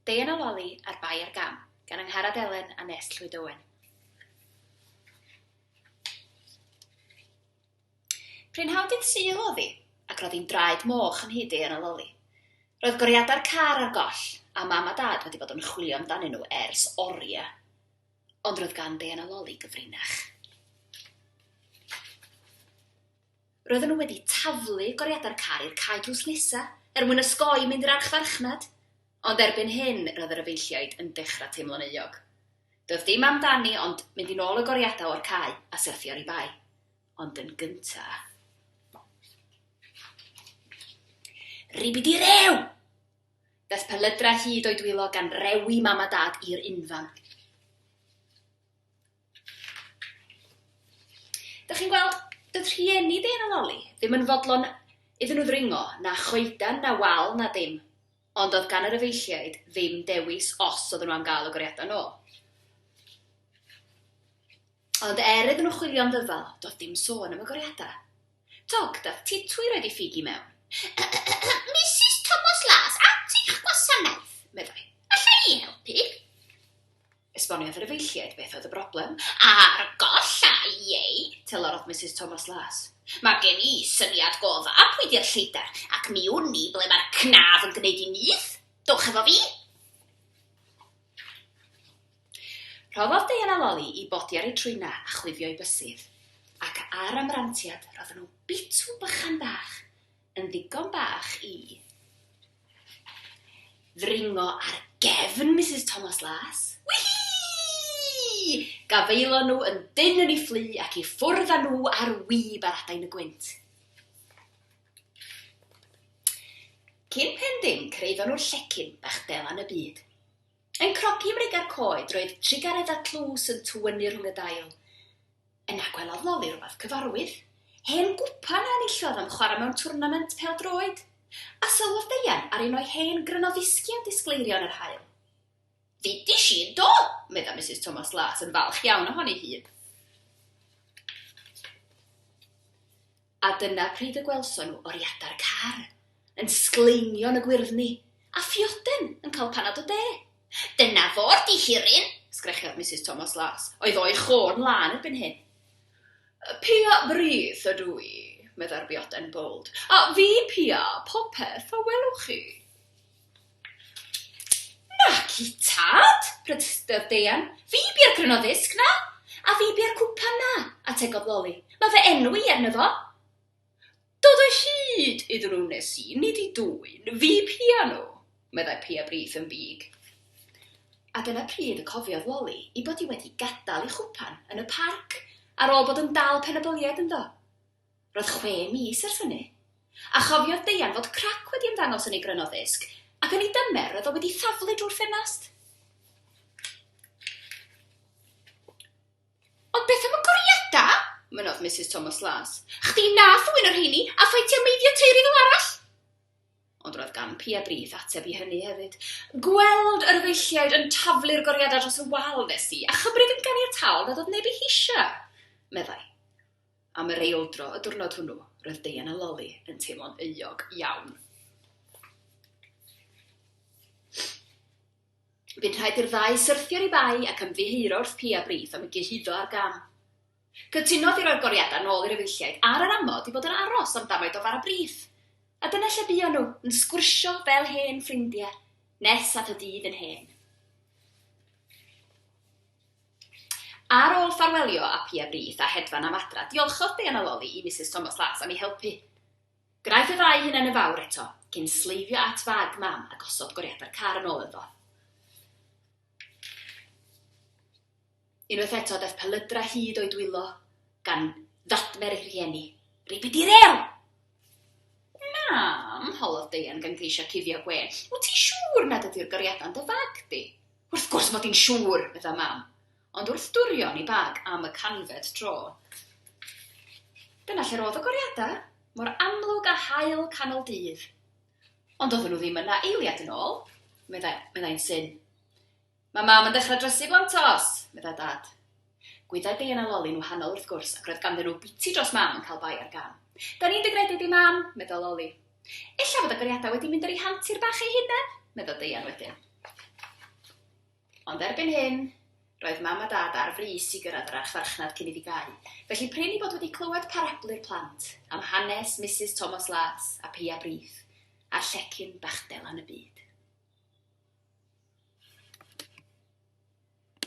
Deian a Loli a'r Bai ar Gam, gan Angharad Elen a Nest Llwyd Owen. Prynhawn dydd Sul oedd hi, ac roedd hi'n draed moch yn hyd Deian a Loli. Roedd goriadau'r car ar goll, a mam a dad wedi bod yn chwilio amdanyn nhw ers oriau. Ond roedd gan Deian a Loli gyfrinach. Roedden nhw wedi taflu goriadau'r car i'r cae drws nesa er mwyn osgoi mynd i'r archfarchnad, ond erbyn hyn roedd yr efeilliaid yn dechrau teimlo'n euog. Doedd dim amdani ond mynd i nôl y goriadau o'r cae a syrthio ar ei bae. Ond yn gynta'. Ribidi rew! Daeth pelydra hyd o'i dwylo gan rewi mam a dad i'r unfan. Dych chi'n gweld, doedd rhieni Dane a Loli ddim yn fodlon iddyn nhw ddringo, na choeden, na wal, na dim. Ond oedd gan yr efeilliaid ddim dewis os oedden nhw am gael y goriadau yn ôl. Ond er iddyn nhw chwilio am ddyfal, doedd dim sôn am y goriadau. Tog, dath Titwi roed ei ffug i mewn. Misus Tomos Las, at eich gwasanaeth, meddai. Alla i helpu? Esboniodd yr efeilliaid beth oedd y broblem. Ar golla i eu telerod Misus Thomas Las. Mae gen i syniad go dda pwy 'di'r lleidar, ac mi wn i ble mae'r cnaf yn gwneud ei nyth. Dowch efo fi! Rhoddodd Diana loli i Bodi ar ei trwynna a chwifio ei bysydd, ac ar amrantiad roedden nhw'n bitw bychan bach. yn ddigon bach i ddringo ar gefn Misus Tomos Las. Wihii! Gafaelon nhw yn dynn yn ei fflu ac i ffwrdd â nhw ar wib ar adain y gwynt. Cyn pen ddim, cyrhaeddon nhw'r llecyn bach delan y byd. Yn crogi ymrug ar coed, roedd trugaredd a tlws yn tywynnu rhwng y dail. Yna gwelodd Loli rywbeth cyfarwydd, hen gwpan a enillodd am chwarae mewn twrnament pêl-droed, a sylwodd Deian ar un o'i hen grynodisgiau disgleirio yn yr haul. Ddudish i yndo! medda Misus Tomos Las yn falch iawn ohoni hi. A dyna pryd y gwelson nhw oriadau'r car yn sgleinio yn y gwyrddni, a phioden yn cael panad o de. Dyna fo'r dihiryn! sgrechiodd Misus Tomos Las, oedd o'i chorn lân erbyn hyn. Pia brith ydw i, meddai'r bioden bowld, a fi pia popeth a welwch chi. Naci, tad, protestiodd Deian. Fi bia'r cryno ddisg 'na. A fi bia'r cwpan 'na, ategodd Loli. Mae fy enw i arno fo. Dod o hyd iddyn nhw wnes i, nid i dwyn fy piau nhw, meddai Pia Brith yn fug. A dyna pryd y cofiodd Loli ei bod hi wedi gadael ei chwpan yn y parc ar ôl bod yn dal pen-y-boliau ganddo. Roedd chwe mis ers hynny. A chofiodd Deian fod crac wedi ymddangos yn ei grynno ddisg, ac yn ei dymer roedd o wedi thaflu drwy'r ffenast. Ond beth am y goriadau? mynnodd Misus Thomas Las. Chdi nath ddwyn y rheini, a ffeitio meiddio teiri fel arall! Ond roedd gan Pia Brith ateb i hynny hefyd. Gweld yr efeilliaid yn taflu'r goriadau dros y wal nes i, a chymryd yn ganiataol nad oedd neb eu heisiau, meddai. Am yr eildro y diwrnod hwnnw, roedd Deian a Loli yn teimlo'n euog iawn. Bu'n rhaid i'r ddau syrthio i bai ac ymddiheuro wrth Pia Brith am y gyhuddo ar gam. Cytunodd i roi'r goriadau nôl i'r efeilliaid ar yr amod i fod yn aros am damaid o fara Brith. A dyna lle buon nhw, yn sgwrsio fel hen ffrindiau, nes at y dydd yn hen. Ar ôl ffarwelio â Pia Brith a hedfan am adra, diolchodd Diana Lolly i Misus Tomos Las am ei helpu. Gwnaeth y ddau hunain yn fawr eto, cyn sleifio at fag Mam a gosod goriadau'r car yn ôl ynddo. Unwaith eto, daeth pelydra hyd o'i dwylo, gan ddadfer ei rhieni. Ribid i rêl! Mam, holodd Deian gan geisio cuddio gwên, wyt ti siŵr nad ydy'r goriadau'n dy fag di? Wrth gwrs mod i'n siŵr, medda Mam, ond wrth dwrion i bag am y canfed tro. Dyna lle'r oedd y goriadau, mor amlwg â haul canol dydd. Ond oedden nhw ddim yna eiliad yn ôl, medda, meddai'n syn. Mae Mam yn dechrau drysu blantos, medda Dad. Gwyddai Dei yna Loli'n wahanol wrth gwrs ac roedd ganddyn nhw biti dros Mam yn cael bai ar gân. Da ni'n dy gredu di, Mam! meddai Loli. Ella fod agoriadau wedi mynd ar eu hantur bach eu hunain, meddai Deian wedyn. Ond erbyn hyn, roedd Mam a Dad ar frys i gyrraedd yr archfarchnad cyn iddi gau, felly prin i bod wedi clywed parablu'r plant am hanes Misus Tomos Las a Pia Brith a'r llecyn bach delan y byd.